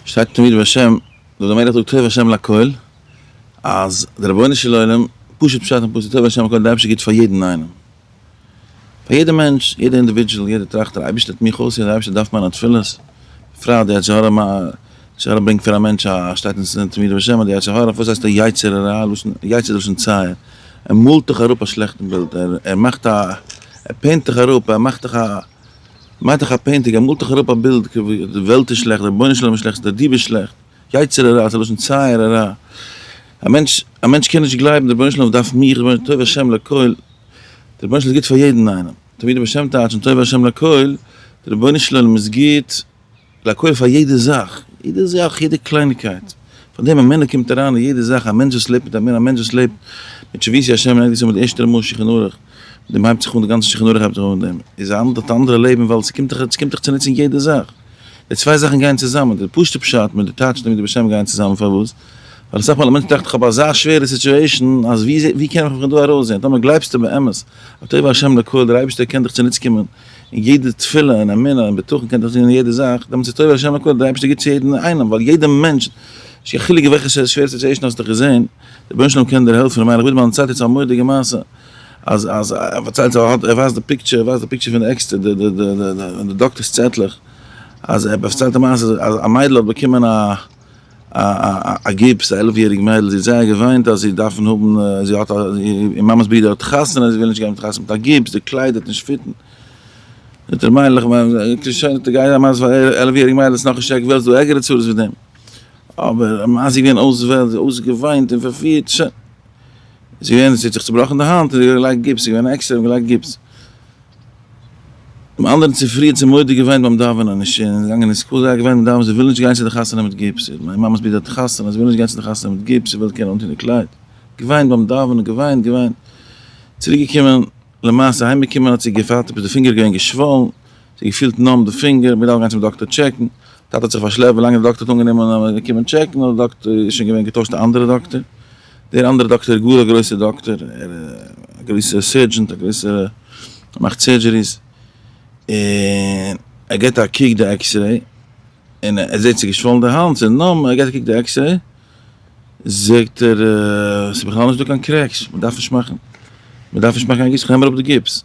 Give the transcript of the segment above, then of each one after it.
שטייט אין תמיד בשם דוד המלך זאגט טוב השם לכל אז דער רבונו של עולם פשוט פשט אין פסוק טוב השם לכל דער אייבערשטער גיט פאר יעדן איינעם פאר יעדע מענטש יעדע אינדיווידזשעל יעדע טראכט דער אייבערשטער האט מיך אויסער דער אייבערשטער דארף מיינע תפילות בפרט די יצר הרע יצר הרע ברענגט פאר א מענטש א שטייט אין תמיד בשם אז די יצר הרע וואס הייסט יצר הרע לשון יצר איז לשון צער ער מאלט דיך אראפ א שלעכטן בילד ער מאכט א ער פעינט דיך אראפ ער מאכט דיך א מאך דיך א פעינטינג, מאל דיך אראפ א בילד כ ו, די וועלט איז שלעכט, רבונו של עולם איז שלעכט, דער די ביסט שלעכט, יצר הרע, ס'איז לשון צער הרע, א מענטש, א מענטש קען נישט גלייבן, דער רבונו של עולם דארף מיך, רבונו של עולם טוב ה' לכל, דער רבונו של עולם איז גוט פאר יעדן איינעם, תמיד ובשם טייטשן טוב ה' לכל, דער רבונו של עולם איז גוט לעקויער פאר יעדע זאך, יעדע זאך, יעדע קלייניגקייט, פאר דעם א מנהל קומט אריין אין יעדע זאך, א מענטש וואס לעבט מיט א מנהל, א מענטש וואס לעבט מיט שביתי השם און ערגעץ איז מיט די ערשטע מאל שולחן ערוך, מיט דעם הייבט זיך אן די גאנצע שולחן ערוך הייבט זיך אן מיט דעם, איז א האט א אנדערע לעבן ווייל עס קומט עס קומט דיך צוניץ אין יעדע זאך, די צוויי זאכן גייען צוזאמען, די פשוט'ע פשט מיט די טייטש נגדי בשם גייען צוזאמען, פארוואס? ווייל אסאך מאל א מענטש טראכט איך האב אזא שווערע סיטועשאן אז ווי קען איך מיך פון דא ארויסזען, טאמער גלייבסטו באמת אז טוב השם לעקויער דער אייבערשטער קען דיך צוניץ קומען, און יעדע תפילה און אמונה און בטחון קען דאך זיין אין יעדע זאך, דעמאלטס איז טוב אז השם הק' דער אייבערשטער גיבט צו יעדן איינעם, ווייל יעדע מענטש, נישט קיין חילוק וועלכע שווערסטע סיטועשן האסטו געזען, דער רבונו של עולם קען דיר העלפן, למשל איך בין באלנס צייט יעצט א מורא'דיגע מעשה, אז אז ער פארציילט זיי ער האט ער ווייזט די פיקטשער ער ווייזט די פיקטשער פון די עקסטער די די די די דאקטערס צעטלעך, אז ער פארציילט א מעשה אז א מיידל האט באקומען א. א גיפס, א עלף יעריג מיידל, זי האט זייער געוויינט אז זי דארפן האבן, זי האט א, איר מאמע'ס ברודער האט חתונה, זי וויל נישט גיין מיט חתונה מיט א גיפס, די קלייד וועט נישט פיטן. זאגט דער מיידל, אקעי שוין, גיי זיי מזל פאר א עלף יעריג מיידל, עס איז נאך נישט ערגער, וועלטס דא ערגערע צרות ווי דעם. אבער מאז זי איז געווען אויסוועלט, זי האט אויסגעוויינט און פארפירט, שוין. זי איז געווען, זי האט זיך צובראכן די האנט, און זי האט געלייגט גיפס, זי איז געווען עקסטער, האט געלייגט גיפס. דעם אנדערן צופרי האט זי מודה געוויינט ביים דאווענען און איז געגאנגען אין סקול, זיי האט געוויינט ביים דאווענען זי וויל נישט גיין צו די חתונה מיט גיפס, זי האט מיין מאמעס ברודער האט חתונה, זי וויל נישט גיין צו די חתונה מיט גיפס, זי וויל קענען אנטון די קלייד, געוויינט ביים דאווענען, געוויינט, געוויינט, צוריק געקומען, למעשה אהיים געקומען האט זי געפאלט עפעס די פינגער איז געווען געשוואלן, זי האט געפילט נאמב די פינגער, מ'דארף גיין צום דאקטער טשעקן, טאטע האט זיך פארשלעפט ווילאנג די דאקטער האט אנגענומען אז מ'קומען טשעקן האט די דאקטער איז שוין געווען געטוישט א אנדערע דאקטער. דער אנדערע דאקטער איז גאר א גרויסער דאקטער, ער איז א גרויסער סערדזשענט, א גרויסער, ער מאכט סערדזשעריס, און ער געבט א קוק די עקסרעי, און ער זעט ס'איז געשוואלן די האנט, און נאכדעם ער געבט א קוק די עקסרעי, זאגט ער, ס'איז בכלל נישטא קיין קרעקס, מ'דארף נישט מאכן, מ'דארף נישט מאכן קיין גיפס, כ'נעם אראפ די גיפס.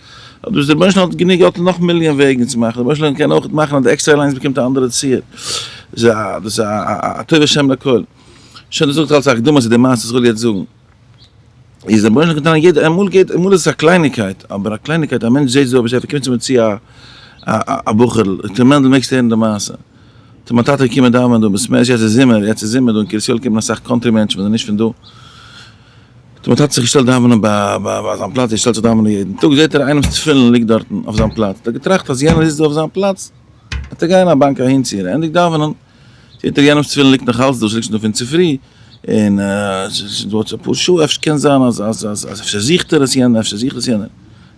אבער דאס רבונו של עולם האט גענוג געלט און נאך מיליאן וועגן צו מאכן, רבונו של עולם קען אויך מאכן אז די עקסטער אליינס באקומט א אנדערע ציור, דאס איז א טוב השם לכל, שוין דאס זאגט אלס א הקדמה צו די מעשה וואס איך וויל יעצט זאגן, איז רבונו של עולם געטאן יעדע, אמאל געט אמאל איז עס א קלייניגקייט, אבער א קלייניגקייט א מענטש זעט ווי אזוי קומט צו מיר צו א בחור'ל, ר' מענדל מעגסט הערן די מעשה, טאמער מיין טאטע איז געקומען דאווענען דא, מסמ ע יעצט איז זומער, יעצט איז זומער דא אין קרית יואל קומען אסאך קאנטרי מענטשן וואס זענען נישט פון דא, האט מיין טאטע זיך געשטעלט דאווענען ביי זיין פלאץ, ער שטעלט זיך דאווענען יעדן טאג, זעט ער איינעמ'ס תפילין ליגט דארטן אויף זיין פלאץ, האט ער געטראכט אז יענער זיצט דא אויף זיין פלאץ, וועט ער גיין א באנק אהינציען, ענדיגט דאווענען, זעט ער יענעמ'ס תפילין ליגט נאך אלץ דא, ס'ליגט שוין דא פון צופרי, און ס'איז שוין דא אלץ אפאר שעה, אפשר קען זיין אז אז אז אפשר זוכט ער עס יענער, אפשר זוכט עס יענער,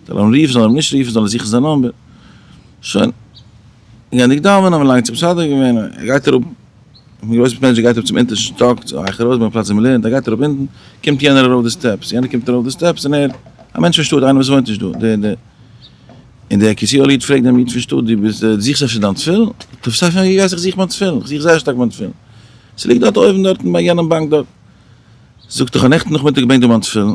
זאל ער אים רופן, זאל ער אים נישט רופן, זאל ער זוכן זיין נומבער, שוין. גייענדיג דאווענען האבן מיר לאנג צו מסדר געווען, ער גייט אראפ, כ'בין געוואוינט צו פענטשער גייט אראפ צום אונטערשטן שטאק צו אייך ארויס ביים פלאץ ווי מ'לערנט, ער גייט אראפ אונטן, קומט יענער ארויף די סטעפס, יענער קומט ארויף די סטעפס און ער, א מענטש פון שטאט, איינער וואס וואוינט נישט דא, דער דער, און דער קרית יואל'ע איד פרעגט דעם איד פון שטאט, דו ביסט, דו זוכסט אפשר דיין תפילין? טוב סא פון ווי ווייסט איך זוך מיין תפילין, כ'זוך זייער שטארק מיין תפילין, ס'ליגט דארט אויבן דארטן ביי יענעם באנק דארט, זאגט ער, כ'האב נעכטן נאכמיטאג געברענגט דא מיין תפילין.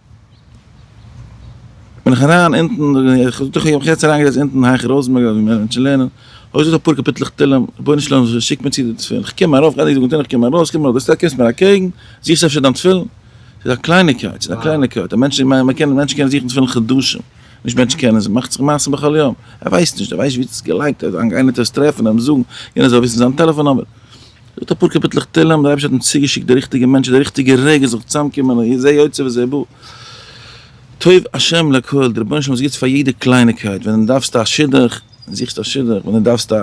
בין איך אריין אונטן, איך האב דאך יעצט אריינגעזעצט אונטן היכל ראזענבערג אויף מענין צו לערנען, האב איך געזאגט אפאר קאפיטלעך תהלים, רבונו של עולם שיק מיר צו די תפילין, איך קום ארויף, געהעריג אנגעטון, איך קום ארויס, קום ארויס, קומסט מיר אקעגן, זוכסט אפשר דיין תפילין? ס'איז א קלייניגקייט, ס'איז א קלייניגקייט, א מענטש, מענטשן קענען זוכן תפילין חדשים, נישט מענטשן קענען, ס'מאכט זיך מעשים בכל יום, ער ווייסט נישט, ער ווייסט נישט וואו ס'איז געלייגט, איינער טאר עס טרעפן און אים זאגן, יענער זאל וויסן זיין טעלעפאן נומער. זאגט אפאר קאפיטלעך תהלים, דער אייבערשטער האט אים צוגעשיקט די ריכטיגע מענטשן, די ריכטיגע רגע עס זאל זיך צוזאמקומען, און זה יוצא וזה בא, טוב השם לכל, דער רבונו של עולם איז גוט פאר יעדע קלייניקייט, ווען דו דארפסט א שידוך, זוכסטו א שידוך, ווען דו דארפסט א,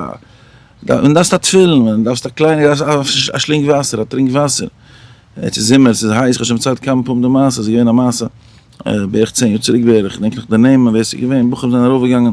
ווען דו דארפסט א תפילין, ווען דו דארפסט א קליינע, א שלינג וואסער, א טרינק וואסער, יעצט איז זומער, עס איז הייס, כ'האב שוין דערציילט כמה פעמים די מעשה, עס איז געווען א מעשה בערך צען יאר צוריק בערך, כ'דענק נאך די נעמען ווער עס איז געווען, בחורים זענען ארויפגעגאנגען,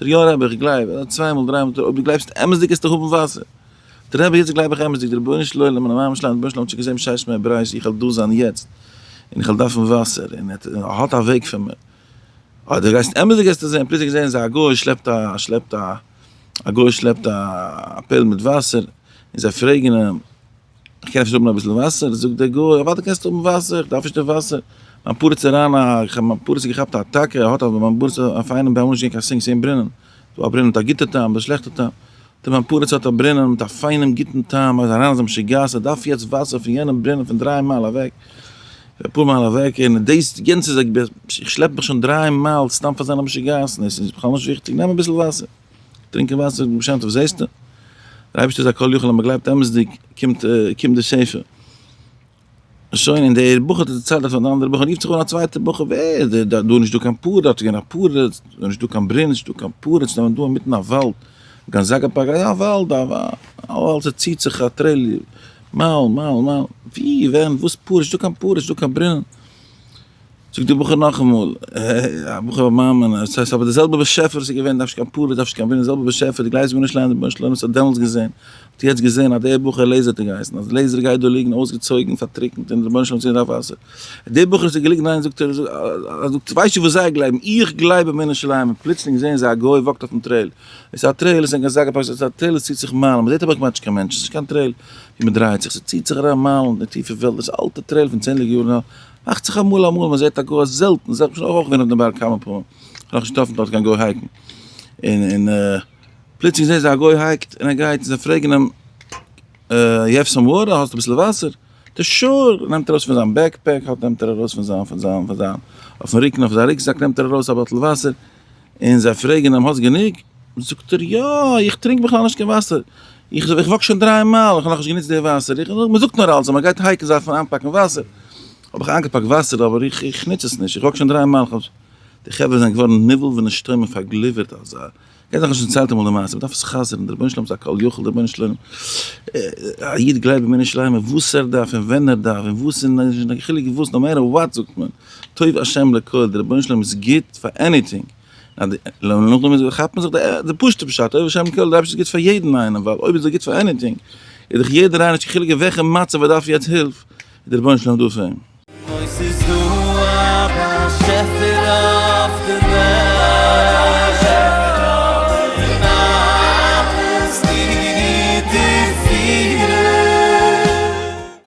דער יאר רבי איך גלייב אז צוויי מאל דריי מאל אויב דו גלייבסט אמת'דיג עסטו האבן וואסער. דער רבי יעצט גלייב איך אמת'דיג דער רבונו של עולם און המים שלם רבונו של עולם האט שוין געזען בשעת מי אבראיש איך וועל דא זיין יעצט און איך וועל דארפן וואסער און ער האט א וועג פאר מיר אויב דו גייסט אמת'דיג עסטו זען פליצונג זעען זיי א גוי שלעפט א שלעפט א א גוי שלעפט א פעל מיט וואסער און זיי פרעגן אים איך קען אפשר האבן אביסל וואסער? זאגט דער גוי, אוודאי קענסטו האבן וואסער, איך דארף נישט די וואסער, מיין פרדס איז ריין, איך האב מיין פרדס געכאפט א אטאקע, האט אבער מיין פרדס א פיינעם טעם, אמאל איז נישט געווען קיין סינק, ס'געווען ברינען, ס'איז דא א ברינען מיט א גוטע טעם, אדער שלעכטע טעם, טא מיין פרדס האט א ברינען מיט א פיינעם גוטן טעם, ער איז אריין אזא משוגעת, ער דארף יעצט וואסער פון יענעם ברינען פון דריי מייל אוועק, אפאר מייל אוועק, און דאס גאנצע איז, איך שלעפ מיך שוין דריי מייל סתם פאר זיינע משוגעת'ן, עס איז בכלל נישט וויכטיג, נעם אביסל וואסער. טרינקען וואסער ב שם טוב זעסטו? דער אייבערשטער איז א כל יכול אז מען גלייבט אמת'דיג קומט קומט די שפע. שוין און דער בחור האט עס דערציילט אויף אן אנדערע בחור רופט זיך אן א צווייטער בחור ווער איז דער דארט דא איז נישטא קיין פארע דארט איז געווען א פארע דא נישטא קיין ברינ נישטא קיין פארע ס'איז נאר דא אינמיטן א וואלד גאנזאגא פארק א וואלד א וואלד ס'ציט זיך א טרעיל מייל מייל מייל ווי ווען וואס פארע נישטא קיין פארע נישטא קיין ברינען. זאגט דער בחור נאכאמאל, א בחור א מאמין, עס הייסט אבער די זעלבע באשעפער וואס איז געווען, דארף נישט קיין פאליס, דארף נישט קיין ווינער, די זעלבע באשעפער, די גלייבסט מיר נישט ליין די רבונו של עולם וואס האט דעמאלטס געזען, האט יעצט געזען אז דער בחור לעיזער האט ער געהייסן, אז לעיזער גייט דא ליגן אויסגעצויגן, פארטריקנט, און די רבונו של עולם האט געזען די וואסער. דער בחור וואס האט געליגן ניין זאגט ער, זאגט ווייסטו וואס זיי גלייבן, איך גלייב אין מנין של העמים, פלוצלינג זעען זיי א גוי וואקט אויפן טרעיל, עס איז א טרעיל, עס איז נישט קיין זאגער פארק, עס איז א טרעיל, עס ציט זיך מיילן, מען זעט אבער כמעט נישט קיין מענטשן, עס איז נישט קיין טרעיל ווי מען דרייעט זיך, עס ציט זיך אריין מיילן אין די טיפע וועלט, דאס אלטע טרעיל פון צענדליגע יארן, מאכט זיך אמאל אמאל מען זעט א גוי אבער זעלטן, זעלטן, כ'בין אויך געווען אויף דעם בארג כמה פעמים, כ'האב נאך נישט געטראפן דארט קיין גוי הייקן, און און פלוצלינג זעהן זיי א גוי הייקט און ער גייט און זיי פרעגן אים אה יו העוו סאם וואטער, האסט אביסל וואסער? די שאור! נעמט ארויס פון זיין בעק פעק האלט נעמט ער ארויס פון זיין פון זיין פון זיין אויפן רוקן אויף זיין רוקזאק נעמט ער ארויס א באטל וואסער, און זיי פרעגן אים, האסט גענוג? זאגט ער, יא, איך טרינק בכלל נישט קיין וואסער, איך וואק שוין דריי מייל, איך האב נאכנישט גענוצט די וואסער, מען זאגט נאר אלץ אז מען גייט הייקן זאל מען איינפאקן וואסער, האב איך איינגעפאקט וואסער אבער איך נוץ עס נישט, איך וואק שוין דריי מייל, די חברה זענען געווארן נבהל ונשתומם און פארגליווערט אזא, כ'האב דאך שוין געציילט אמאל די מעשה, מען דארף עס חזר'ן, דער רבונו של עולם איז א כל יכול, דער רבונו של עולם, א איד גלייבט באמונה שלימה וואס ער דארף און ווען ער דארף און וואס און נישט קיין חילוק וואס, נאר מער אויף וואט זאגט מען. טוב השם לכל, די רבונו של עולם איז גוט פאר עניטינג, כאפט מען זיך די פשוטע פשט, טוב השם לכל, די אייבערשטער איז גוט פאר יעדן איינעם, ווייל אויב איז ער גוט פאר עניטינג, איז דאך יעדער איינער נישט קיין חילוק אין וועלכע מצב ער דארף יעצט הילף, איז די רבונו של עולם דא פאר אים. אויב ס'איז דא א באשעפער אויף דער וועלט, און אלעס טוט ער פאר אים.